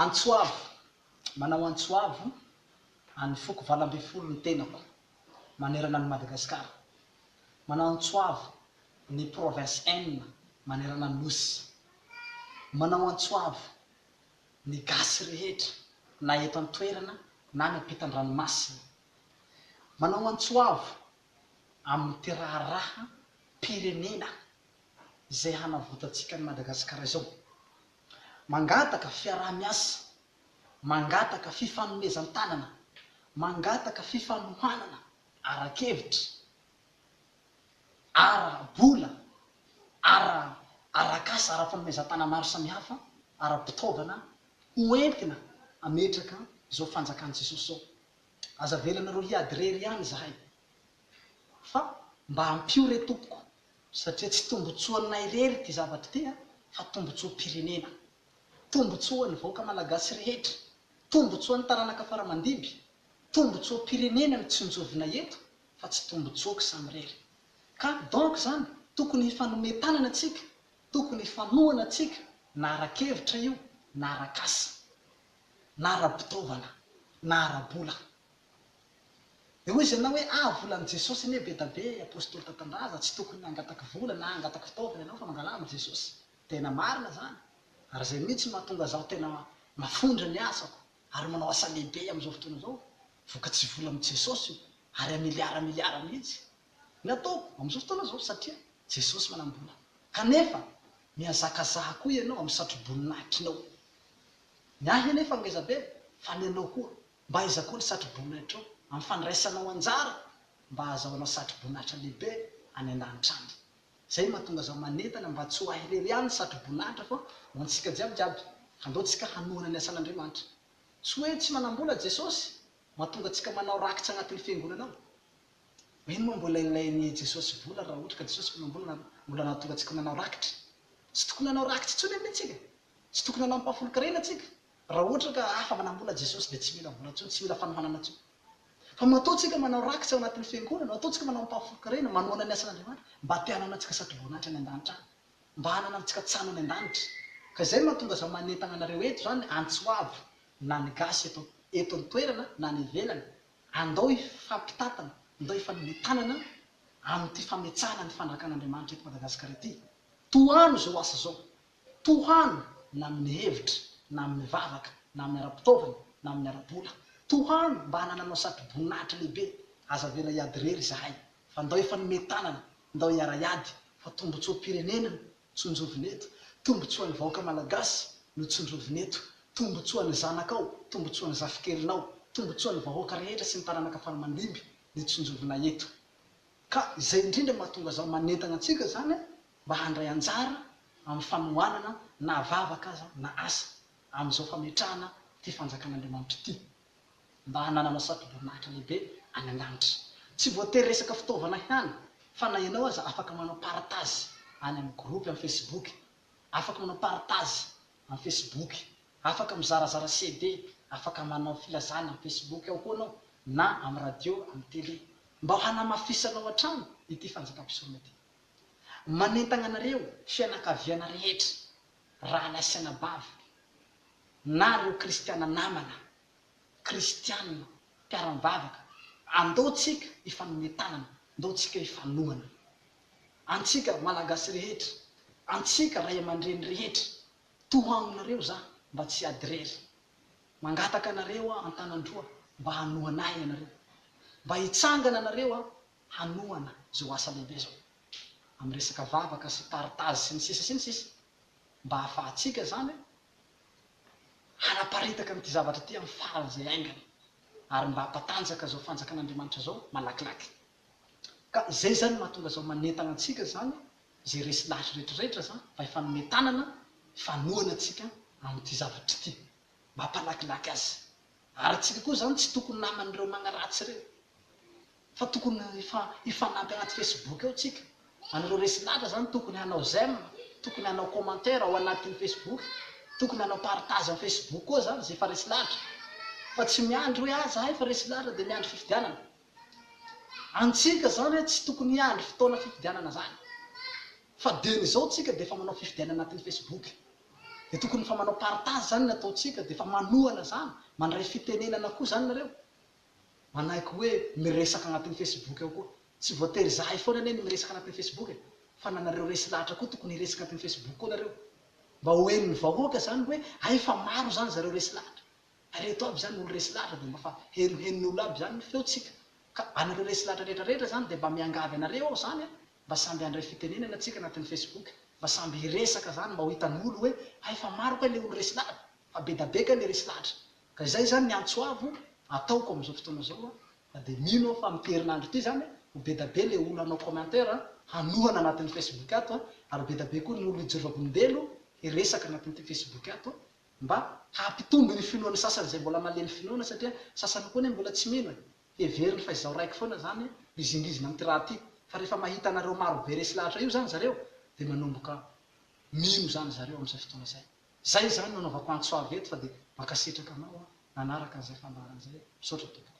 Antso avo, manao antso avo an'ny foko valo ambin'ny folo ny tenako manerana an'i Madagasikara. Manao antso avo ny provinces enina manerana ny Nosy. Manao antso avo ny gasy rehetra na eto an-toerana na any am-pitan-dranomasina. Manao antso avo amin'ity raharaham-pirenena izay hanavotantsika an'i Madagasikara izao. Mangataka fiaraha-miasa, mangataka fifanomezan-tanana, mangataka fifanohanana ara-kevitra, ara-bola, ara-arak'asa, ara-panomezan-tana maro samihafa, ara-pitaovana ho entina hametraka izao fanjakan'i Jesosy izao. Aza avelanareo hiady irery ihany izahay. Fa mba ampio re tompoko satria tsy tombotsoanay irery ity zavatra ity a, fa tombotsoam-pirenena. Tombotsoan'ny vahoaka malagasy rehetra. Tombotsoan'ny taranaka faramandimby. Tombotsoam-pirenena no tsinjovina eto fa tsy tombotsoako samirery. Ka donc zany tokony hifanome tanana tsika, tokony hifanohana tsika na ara-kevitra io na ara-kasa. Na ara-bitaovana na ara-bola. Dia hoy izy aminao hoe, Ah, volan'i Jesosy anie be da be, apostoly tantandraza, tsy tokony hangataka vola na hangataka fitaovana ianao fa mangalà amin'i Jesosy. Tena marina izany. Ary izay mihitsy no mahatonga izaho tena mafondra ny asako ary manao asa lehibe amin'izao fotoana izao. Vokatry vola amin'i Jesosy io, ary amiliara amiliara mihitsy ny ataoko amin'izao fotoana izao satria Jesosy manam-bola. Kanefa, mihazakazaha koa ianao amin'ny satroboninahitrinao. Ny ahy anefa ngeza be, fa ny anao koa. Mba aiza koa ny satroboninaitrao amin'ny fandraisanao anjara mba hahazahoanao satroboninahitra lehibe any an-danitra any? Izay no mahatonga zaho manentana mba tsy ho ahy irery ihany ny satroboninahitra fa ho antsika jiaby jiaby. Andao tsika hanohana ny asan'Andriamanitra. Tsy hoe tsy manam-bola Jesosy mahatonga antsika manao rakitra anatin'ny fiangonana ao. Mino moa mbola ilain'i Jesosy vola raha ohatra ka Jesosy mpanam-bola na mbola nahatonga antsika manao rakitra? Tsy tokony hanao rakitra intsony anie tsika. Tsy tokony hanao ampahafolon-karena tsika. Raha ohatra ka afa manam-bola Jesosy dia tsy mila vola intsony, tsy mila fanohanana intsony. Fa matoa tsika manao rakitra ao anatin'ny fiangonana, matoa tsika manao ampahafolon-karena, manohana ny asan'Andriamanitra, mba te hanana antsika sady voninahitra any an-danitra any. Mba hanana antsika tsano any an-danitra. Ka izay mahatonga aza manentana anareo eto izany, antso hoavy, na ny gasy eto eto an-toerana na any ivelany, andao hifampitantana, ndao hifanome tanana amin'ity fametsahana ny fanjakan'Andriamanitra eto Madagasikara ity. Tohano izao asa izao. Tohano na amin'ny hevitra, na amin'ny vavaka, na amin'ny ara-pitaovana, na amin'ny ara-bola. Tohano mba hanananao satroboninahitra lehibe. Aza avela hiady irery izahay, fa ndao hifanome tanana, ndao hiara-hiady, fa tombontsoam-pirenena no tsinjovina eto, tombontsoan'ny vahoaka Malagasy no tsinjovina eto, tombontsoan'ny zanakao, tombontsoan'ny zafikelinao, tombontsoan'ny vahoaka rehetra sy ny taranaka faramandimby no tsinjovina eto. Ka izay indrindra mahatonga izany manentana antsika izany mba handray anjara amin'ny fanohanana na vavaka aza na asa amin'izao fametrahana ity Fanjakan'Andriamanitra ity mba hananana satoboninahitra lehibe any an-danitra. Tsy voatery resaka fitaovana ihany fa na ianao aza afaka manao partage any amin'ny groupe amin'ny facebook, afaka manao partage amin'ny facebook Afaka mizarazara CD, afaka manao filazana amin'ny Facebook ao koa anao na amin'ny radio, amin'ny tele mba ho hanamafisanao hatrany ity fanjakam-pisorona ity. Manentagna anareo fianakaviana rehetra, rahalahy sy anabavy, na ireo kristiana namana, kristiana, mpiara-mivavaka, andao tsika hifanome tanana, ndao tsika hifanohana. Antsika Malagasy rehetra, antsika Ray aman-dreny rehetra, Toha aminareo za mba tsy hiady rery Mangataka anareo aho antanandroa mba hanohana ahy ianareo Mba hitsangana anareo aho hanohana zao asa lehibe zao Am resaka vavaka sy partage sy ny sisa sy ny sisa Mba hahafahantsika zany hanaparitaka an'ity zavatra ity am faran zay aingana Ary mba hampatanjaka zao fanjakan'Andriamanitra zao malakilaky Ka zay zany mahatonga zao manentana antsika zany izay resy lahy retraretra za fa efa hanome tanana fanohana antsika amin'ity zavatra ity mampalakilaky azy ary antsika koa zany tsy tokony naman'ireo magnaratsy ireo fa tokony efa hifanampy anaty facebook ao tsika anareo resy lahatra zany tokony hanao j'aime tokony hanao commentaire ao anatin'ny facebook tokony hanao partage am facebook koa zany zay efa resy lahatra fa tsy miandry hoe ah zahay efa resy lahatra dia miandry fifidianana Antsika zany hoe tsy tokony hiandry fotoana fifidianana zany fa de ny zao tsika defa manao fifidianana anatin'ny Facebook de tokony efa manao partage zany ny ataontsika defa manohana zany mandray fitenenana koa zany nareo manaiky hoe miresaka anatin'ny Facebook ao koa tsy voatery zahay foana anie no miresaka anatin'ny Facebook e fa na nareo resy lahatra koa tokony hiresaka anatin'ny Facebook koa nareo mba ho henon'ny vahoaka zany hoe hay fa maro zany zareo resy lahatra. Ary reto aby zany olo resy lahatra de mba fa henoheno ny olo aby zany ny feo tsika ka anareo resy lahatra rehetra rehetra zany de mba miangavy anareo aho zany a mba samby handray fitenenana tsika anatiny facebook mba samby hiresaka zany mba ho hitan olo oe hay fa maro kay le olo resy lahatra fa bedabe kay le resy lahatra ka izay zany ny antsoavo ataoko amizao fotoana zao a fa de mino aho fa amity herinandro ity zany a ho bedabe le olo hanao commentaire a hanohana anatiny facebook ato a ary ho bedabe koa ny olo hijoro vavolombelo hiresaka anatiny ty facebook ato Mba hampitombo ny finoan'ny sasany izay mbola malemy finoana satria sasany koa anie mbola tsy mino e! Heveriny fa izaho raiky foana izany mizingizina amin'ity raha ity fa rehefa mahita anareo maro be resy lahatra io izany zareo dia manomboka mino izany zareo amin'izay fotoana izay. Izay izany no anaovako antso avo eto fa dia mankasitraka anao an! nanaraka an'izay fandaharana izay e! Misaotra tompoko.